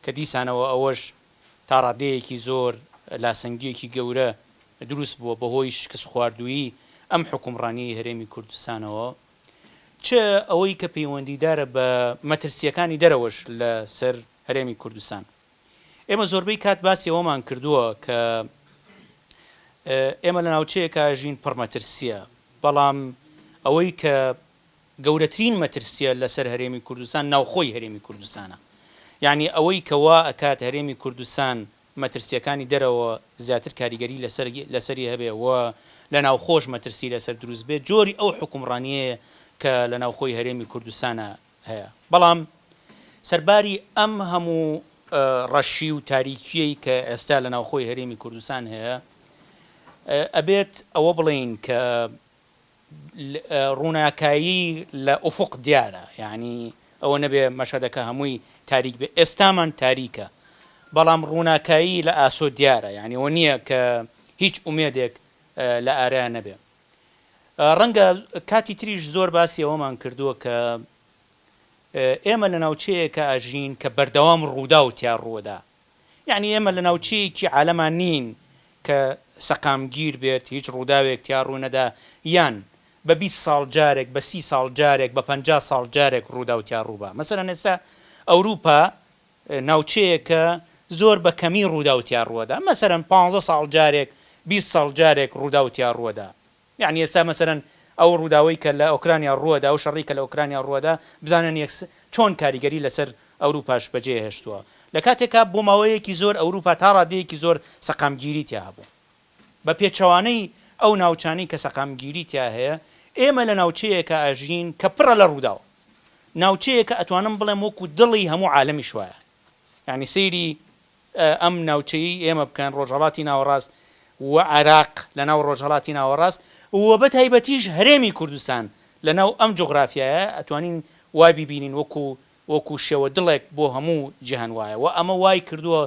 کە دیسانەوە ئەوەش تا ڕادەیەکی زۆر لاسەنگییەکی گەورە دروست بووە بەهۆی شکستخواردوویی ئەم حوکمڕانییەی هەرێمی کوردستانەوە، چ ئەوەی کە پەیوەندیدارە بە مەترسییەکانی دەرەوەش لەسەر هەرێمی کوردستان. ئێمە زۆربەی کات باسی ئەوەمان کردووە کە ئێمە لە ناوچەیەک ئاژین پڕ مەترسییە، بەڵام ئەوەی کە گەورەترین مەترسیە لەسەر هەرێمی کوردستان ناوخۆی هەرێمی کوردستانە یانی ئەوەی کە وا ئەکات هەرێمی کوردستان مەترسیەکانی دەرەوە زیاتر کاریگەری لەسەر لەسەری هەبێ و لە ناوخۆش مەترسی لەسەر دروست بێت جۆری ئەو حوکمڕانیەیە کە لە ناوخۆی هەرێمی کوردستانا هەیە بەڵام سەرباری ئەم هەموو ڕەشی و تاریکیەی کە ئێستا لە ناوخۆی هەرێمی کوردستان هەیە ئەبێت ئەوە بڵێین کە ڕووناکایی لە ئوفوق دیارە یانی ئەوە نەبێ مەشهەدەکە هەمووی تاریک بێ ئێستامان تاریکە بەڵام ڕووناکایی لە ئاسۆ دیارە یانی ئەوە نییە کە هیچ ئومێدێک لە ئارا نەبێ ڕەنگە کاتی تریش زۆر باسی ئەوەمان کردووە کە ئێمە لە ناوچەیەکە ئەژین کە بەردەوام ڕووداو تیا ڕووەدا یەعنی ئێمە لە ناوچەیەکی عالەما نین کە سەقامگیر بێت، هیچ ڕووداوێک تیا ڕوو نەدا یان بە بیست ساڵ جارێک، بە سی ساڵ جارێک، بە پەنجا ساڵ جارێک ڕووداو تیا ڕوو با. مەسەلەن ئێستا ئەوروپا ناوچەیەکە زۆر بە کەمی ڕووداو تیا ڕووەدا. مەسەلەن پانزە ساڵ جارێک، بیست ساڵ جارێک ڕووداو تیا ڕووەدا. یەعنی ئێستا مەسەلەن ئەو ڕووداوەی کە لە ئۆکرانیا ڕووەدا، ئەو شەڕی کە لە ئۆکرانیا ڕووەدا، بزانن یەکس چۆن کاریگەری لەسەر ئەوروپاش بەجێ هێشتووە. لە کاتێکا بۆ ماوەیەکی زۆر ئەوروپا تا ڕادەیەکی زۆر سەقامگیری تیا هەبوو. بە پێچەوانەی ئەو ناوچانەی کە سەقامگیری تیا هەیە، ئێمە لە ناوچەیەکا ئەژین کە پڕە لە ڕووداو. ناوچەیەک کە ئەتوانم بڵێم وەکوو دڵی هەموو عالەمیش وایە. یانی سەیری ئەم ناوچەیەی ئێمە بکەن ڕۆژهەڵاتی ناوەڕاست و عێراق لەناو ڕۆژهەڵاتی ناوەڕاست و بەتایبەتیش هەرێمی کوردستان لەناو ئەم جوغرافیایە ئەتوانین وای بیبینین وەکو وەکو شێوە دڵێک بۆ هەموو جیهان وایە و ئەمە وای کردووە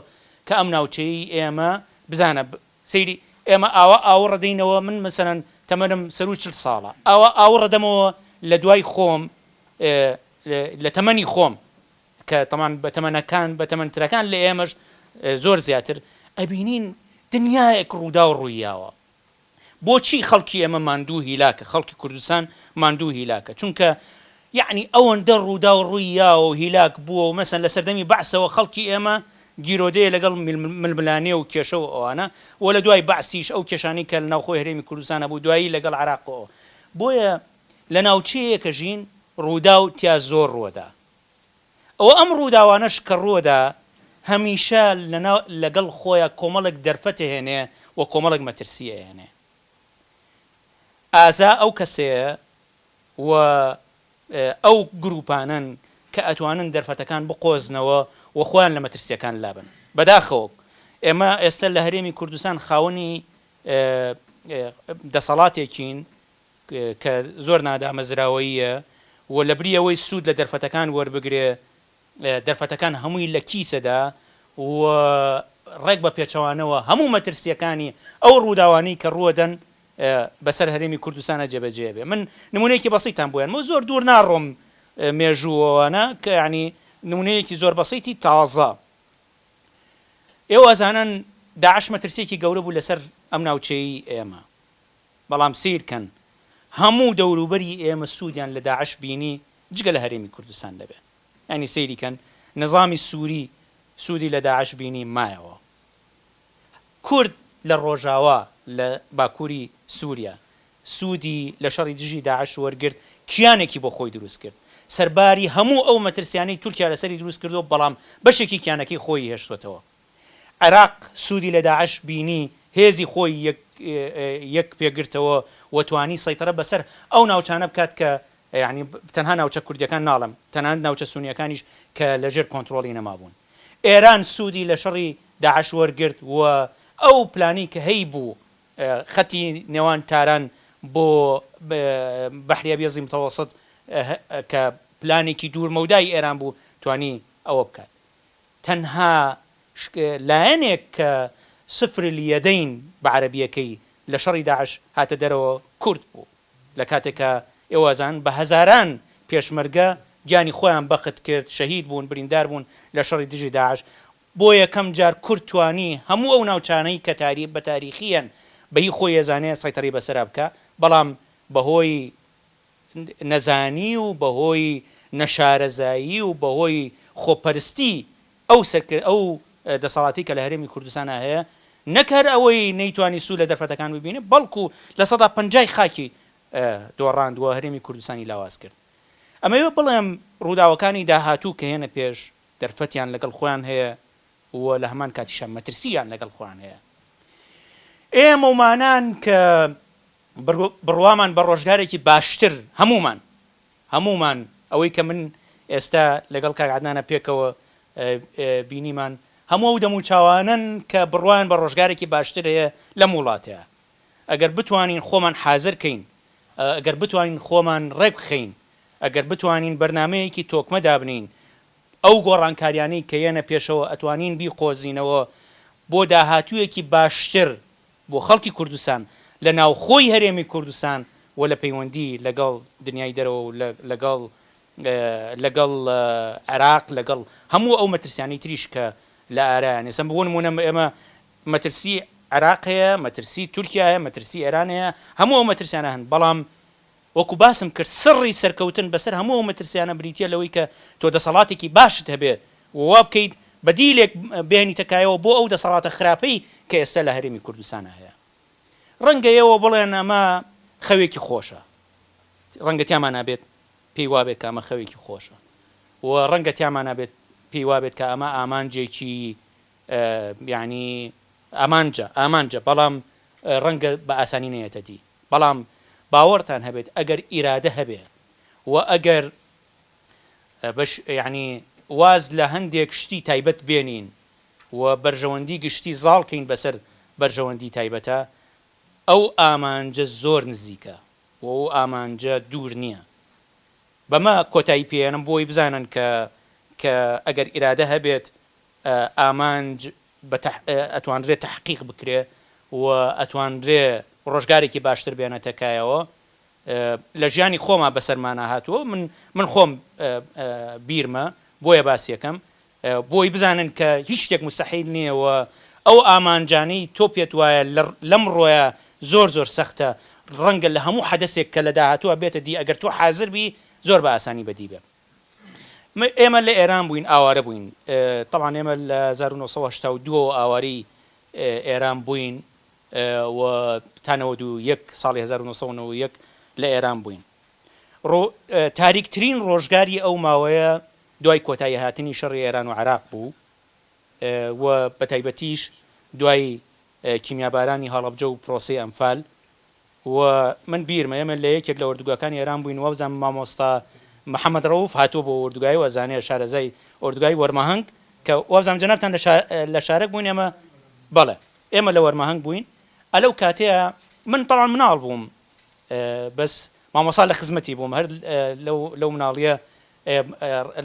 کە ئەم ناوچەیەی ئێمە بزانە سەیری ئێمە ئاوا ئاوڕ دەینەوە من مەسەلەن تەمەنم سەروو چل ساڵە ئاوا ئاوڕ دەمەوە لە دوای خۆم لە تەمەنی خۆم کە تەمان بەتەمەنەکان بەتەمەنترەکان لەئێمەش زۆر زیاتر ئەبینین دنیایەک ڕووداو ڕوویاوە بۆچی خەڵکی ئێمە ماندوو هیلاکە خەڵکی کوردستان ماندوو هیلاکە چونکە یەعنی ئەوەندە ڕووداو ڕووی یاوەو هیلاک بووەو مەسەن لەسەردەمی بەعسەوە خەڵکی ئێمە گیرۆدەیە لەگەڵ ململانێ و کێشە و ئەوانە و لەدوای بەعسیش ئەو کێشانەی کە لەناوخۆی هەرێمی کوردستان هەبوو دوایی لەگەڵ عێراقەوە بۆیە لەناوچەیەکەژین ڕووداو تیا زۆر ڕووەدا ئەوە ئەم ڕووداوانەش کە ڕووەدا هەمیشە لەنا لەگەڵ خۆیا کۆمەڵێک دەرفەت ئەهێنێ و کۆمەڵێک مەترسی ئەهێنێ. ئازا ئەو کەسەیە و ئەو گرووپانەن کە ئەتوانن دەرفەتەکان بقۆزنەوە و خۆیان لە مەترسییەکان لابەن. بەداخەوە ئێمە ئێستە لە هەرێمی کوردستان خاوەنی دەسەڵاتێکین کە زۆر نادامەزراوەییە و لە بری ئەوەی سوود لە دەرفەتەکان وەربگرێ، دەرفەتەکان هەمووی لە کیسەدا و ڕێک بە پێچەوانەوە هەموو مەترسییەکانی ئەو ڕووداوانەی کە ڕووەدەن بەسەر هەرێمی کوردستانا جێبەجێ ئەبێ. من نموونەیەکی بەسیتتان بۆ هێنمەوە، زۆر دوور ناڕۆم مێژووەوەنا، کە یەعنی نموونەیەکی زۆر بەسیتی تازە. ئێوە ئەزانن داعش مەترسییەکی گەورە بوو لەسەر ئەم ناوچەیەی ئێمە. بەڵام سەیرکەن هەموو دەوروبەری ئێمە سوودیان لە داعش بینی جگە لە هەرێمی کوردستان دەبێ یانی سەیری کەن نزامی سوری سوودی لە داعش بینی مایەوە کورد لە ڕۆژاوا لە باکوری سوریا سوودی لە شەڕی دژی داعش وەرگرت کیانێکی بۆ خۆی دروست کرد سەرباری هەموو ئەو مەترسیانەی تورکیا لەسەری دروست کردوە بەڵام بەشێکی کیانەکەی خۆیی هێشتۆتەوە. عێراق سوودی لە داعش بینی، هێزی خۆی یەک یەک پێگرتەوە و توانی سەیتەرە بەسەر ئەو ناوچانە بکات کە یەعنی تەنها ناوچە کوردییەکان ناڵێم، تەنانەت ناوچە سونییەکانیش کە لەژێر کۆنترۆڵی نەمابوون. ئێران سوودی لە شەڕی داعش وەرگرت و ئەو پلانی کە هەیبوو خەتی نێوان تاران بۆ بەحری ئەبیەزی متەوەسط کە پلانێکی دوورمەودای ئێران بوو توانی ئەوە بکات. تەنها لایەنێک کە صفر الیدین بە عەرەبییەکەی لە شەڕی داعش هاتە دەرەوە کورد بوو لە کاتێک کە ئێوە ئەزانن بە هەزاران پێشمەرگە گیانی خۆیان بەخت کرد شەهید بوون بریندار بوون لە شەڕی دژی داعش بۆ یەکەم جار کورد توانی هەموو ئەو ناوچانەی کە تاریب بە تاریخییەن بە هی خۆی ئەزانێ سەیتەرەی بەسەرا بکا بەڵام بە هۆی نەزانی و بە هۆی نەشارەزایی و بە هۆی خۆپەرستی ئەو سەرکرد ئەو دەسەڵاتی کە لە هەرێمی کوردستانا هەیە نەک هەر ئەوەی نەیتوانی سوو لە دەرفەتەکان ببینێ بەڵکو لە سەدا پەنجای خاکی دۆڕاند و هەرێمی کوردستانی لاواز کرد. ئەمەوێ بڵێم ڕووداوەکانی داهاتوو کە هێنە پێش دەرفەتیان لەگەڵ خۆیان هەیە و لە هەمان کاتیشا مەترسییان لەگەڵ خۆیان هەیە. ئێمەومانان کە بڕوامان بە ڕۆژگارێکی باشتر هەموومان هەموومان ئەوەی کە من ئێستا لەگەڵ کاک عەدنانە پێکەوە بینیمان هەموو ئەو دەموچاوانەن کە بڕوایان بە ڕۆژگارێکی باشتر هەیە لەم وڵاتە ئەگەر بتوانین خۆمان حازر کەین ئەگەر بتوانین خۆمان ڕێک بخەین ئەگەر بتوانین بەرنامەیەکی تۆکمە دابنێین ئەو گۆڕانکاریانەی کە یەنە پێشەوە ئەتوانین بیقۆزینەوە بۆ داهاتوویەکی باشتر بۆ خەڵکی کوردستان لە ناوخۆی هەرێمی کوردستان و لە پەیوەندی لەگەڵ دنیای دەرەوە و لەگەڵ لەگەڵ عێراق لەگەڵ هەموو ئەو مەترسیانەی تریش کە لە ئارایان ئێستا بۆ نموونە ئێمە مەترسی عێراق هەیە مەترسی تورکیا هەیە مەترسی ئێران هەیە هەموو ئەو مەترسیانە هەن بەڵام وەکو باسم کرد سڕی سەرکەوتن بەسەر هەموو ئەو مەترسیانە بریتیە لەوەی کە تۆ دەسەڵاتێکی باشت هەبێ و وابکەیت بەدیلێک بێنیتە کایەوە بۆ ئەو دەسەڵاتە خراپەی کە ئێستا لە هەرێمی کوردستان هەیە. ڕەنگە ئێوە بڵێن ئەمە خەوێکی خۆشە. ڕەنگە تیامانابێت پێی وابێت کە ئەمە خەوێکی خۆشە و ڕەنگە تیامانابێت پێی وابێت کە ئەمە ئامانجێکی یانی ئامانجە ئامانجە بەڵام ڕەنگە بە ئاسانی نەیەتە دی. بەڵام باوەڕتان هەبێت ئەگەر ئیرادە هەبێ و ئەگەر بەش یەعنی واز لە هەندێک شتی تایبەت بێنین و بەرژەوەندی گشتی زاڵ کەین بەسەر بەرژەوەندی تایبەتا ئەو ئامانجە زۆر نزیکە و ئەو ئامانجە دوور نیە بەمە کۆتایی پێ ئەنم بۆی بزانن کە کە ئەگەر ئیرادە هەبێت ئامانج بە تە ئەتوانرێ تەحقیق بکرێ و ئەتوانرێ ڕۆژگارێکی باشتر بێنێتە کایەوە لە ژیانی خۆما بەسەرمانا هاتووە من من خۆم بیرمە بۆیە باسیەکەم بۆی بزانن کە هیچ شتێک مستحیل نییە و ئەو ئامانجانەی تۆ پێت وایە لەم ڕۆیە زۆر زۆر سەختە ڕەنگە لە هەموو حەدەسێک کە لە داهاتووە بێتە دی ئەگەر تۆ حازر بی زۆر بە ئاسانی بەدی بێت. ئێمە لە ئێران بووین ئاوارە بووین تەبعەن ئێمە لە هەزار و نۆ سەد و هەشتا و دوو ئاوارەی ئێران بووین و تا نەوەد و یەک ساڵی هەزار و نۆ سەد و نەوەد و یەک لە ئێران بووین ڕۆ تاریکترین ڕۆژگاری ئەو ماوەیە دوای کۆتایی هاتنی شەڕی ئێران و عێراق بوو و بە تایبەتیش دوای کیمیابارانی هەڵەبجە و پرۆسەی ئەنفال و من بیرمە ئێمە لە یەکێک لە ئۆردوگاکانی ئێران بووین وابزانم مامۆستا محەمەد رەوف هاتووە بۆ ئۆردوگای و ئەزانێ شارەزای ئۆردوگای وەرمەهەنگ کە وابزانم جەنابتان لە شارەک بووین ئێمە بەڵێ ئێمە لە وەرمەهەنگ بووین ئەلەو کاتێ من تەبعەن مناڵ بووم بەس مامۆسا لە خزمەتی بووم هەر لەو مناڵیە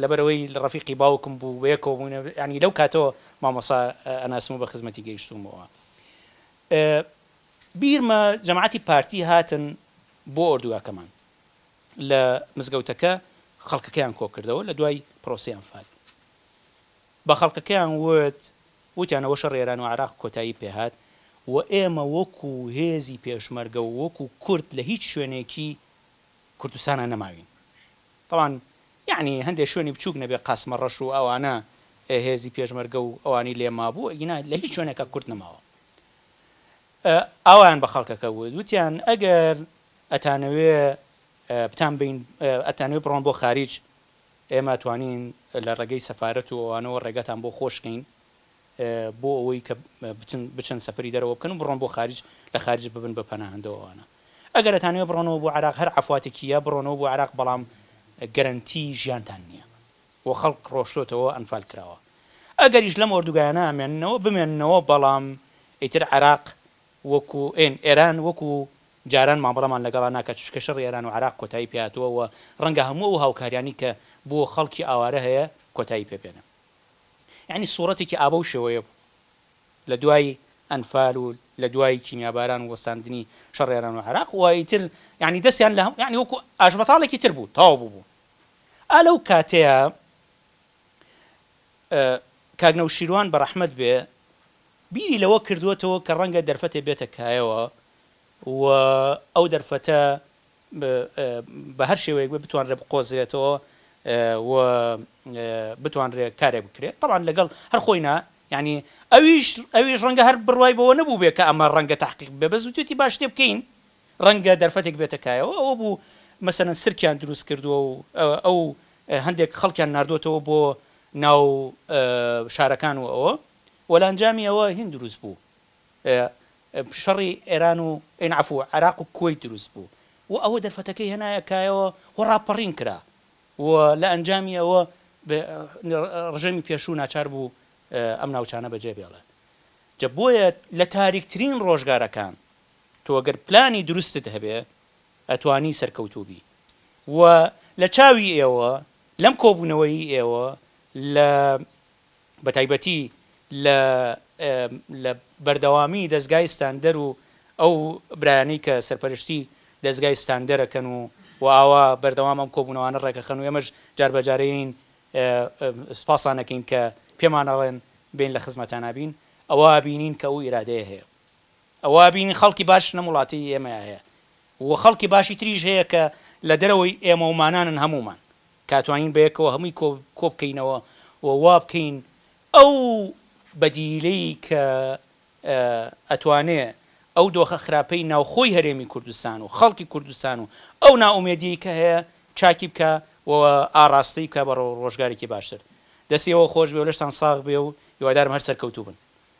لەبەرەوەی رەفیقی باوکم بوو بەیەکەوە بووین یانی لەو کاتەوە مامۆسا ئەناسم و بە خزمەتی گەیشتوومەوە بیرمە جەماعەتی پارتی هاتن بۆ ئۆردوگاکەمان لە مزگەوتەکە خەڵکەکەیان کۆکردەوە لە دوای پرۆسەی ئەنفال بە خەڵکەکەیان وت وتیانەوە شەڕی ئێران و عێراق کۆتایی پێهات و ئێمە وەکو هێزی پێشمەرگە و وەکو کورد لە هیچ شوێنێکی کوردستانا نەماوین تەوان یەعنی هەندێ شوێنی بچووک نەبێ قاسمە ڕەش و ئەوانە هێزی پێشمەرگە و ئەوانی لێ مابوو ئەگینا لە هیچ شوێنێکا کورد نەماوە ئاوایان بە خەڵکەکە وت، وتیان ئەگەر ئەتانەوێ بتان بەین ئەتانەوێ بڕۆن بۆ خاریج ئێمە ئەتوانین لە ڕێگەی سەفارەت و ئەوانەوە ڕێگەتان بۆ خۆش کەین بۆ ئەوەی کە بتن بچن سەفەری دەرەوە بکەن و بڕۆن بۆ خاریج لە خاریج ببن بە پەناهەندە و ئەوانە ئەگەر ئەتانەوێ بڕۆنەوە بۆ عێراق هەر عەفواتێکی یە بڕۆنەوە بۆ عێراق بەڵام گەرەنتی ژیانتان نییە. و خەڵک ڕۆشتۆتەوە ئەنفال کراوە ئەگەریش لەم ئۆردوگایانە ئەمێننەوە بمێننەوە بەڵام ئیتر عێراق وەکو ئێن ئێران وەکو جاران مامەڵەمان لەگەڵا ناکات چونکە شەڕی ئێران و عێراق کۆتایی پێ هاتووە و ڕەنگە هەموو ئەو هاوکاریانەی کە بۆ خەڵکی ئاوارە هەیە کۆتایی پێ بێنن یانی سوڕەتێکی ئابەو شێوەیە بوو لە دوای ئەنفال و لە دوای کیمیاباران و وەستاندنی شەڕی ئێران و عێراق و ئیتر یانی دەستیان لە یانی وەکو ئاشبەتاڵێکی تر بوو تەواو بوو بوو ئا لەو کاتەیا کاک نەوشیروان بە رەحمەت بێ بیری لەوە کردووەتەوە کە رەنگە دەرفەتێ بێتە کایەوە و ئەو دەرفەتە بە هەر شێوەیەک بێ بتوانرێ بقۆزرێتەوە و بتوانرێ کارێک بکرێ تەبعەن لەگەڵ هەر خۆی نا یەعنی ئەویش ئەویش رەنگە هەر بڕوای بەوە نەبووبێ کە ئەمە رەنگە تەحقیق بێ بەس وتویەتی با شتێ بکەین ڕەنگە دەرفەتێک بێتە کایەوە ئەوە بوو مەسەلەن سرکیان دروست کردووە و ئەو هەندێک خەڵکیان ناردۆتەوە بۆ ناو شارەکان و ئەوە وە لانجامی ئەوە هین دروست بوو شەڕی ئێران و ئەین عەفو عراق و کوەیت دروست بوو و ئەوە دەرفەتەکەی هێنایە کایەوە و ڕاپەڕین کرا و لە ئەنجامی ئەوە ڕژێمی پێشوو ناچار بوو ئەم ناوچانە بەجێ بێڵێ جە بۆیە لە تاریکترین ڕۆژگارەکان تۆ گەر پلانی دروستت هەبێ ئەتوانی سەرکەوتوو بی و لە چاوی ئێوە لەم کۆبوونەوەیی ئێوە لە بە تایبەتی لە لە بەردەوامی دەزگای ستاندەر و ئەو برایانەی کە سەرپەرشتی دەزگای ستاندەر ئەکەن و و ئاوا بەردەوام ئەم کۆبوونەوانە ڕێکەخەن و ئێمەش جار بە جارەین سپاسان ئەکەین کە پێمان ئەڵێن بێین لە خزمەتانا بین ئەوە ئەبینین کە ئەو ئیرادەیە هەیە ئەوا بینی خەڵکی باشیش لەم وڵاتەی ئێمەیا هەیە و خەڵکی باشی تریش هەیە کە لە دەرەوەی ئێمەومانانن هەموومان کا توانین بەیەکەوە هەمووی کۆ کۆ بکەینەوە و وا بکەین ئەو بەدیلەی کە ە ئەتوانێ ئەو دۆخە خراپەی ناوخۆی هەرێمی کوردستان و خەڵکی کوردستان و ئەو نائومێدیەی کە هەیە چاکی بکا و ئاڕاستەی بکا بە ڕۆ ڕۆژگارێکی باشتر دەستی ئێوە خۆش بێ و لەشتان ساغ بێ و هیوادارم هەر سەرکەوتوو بن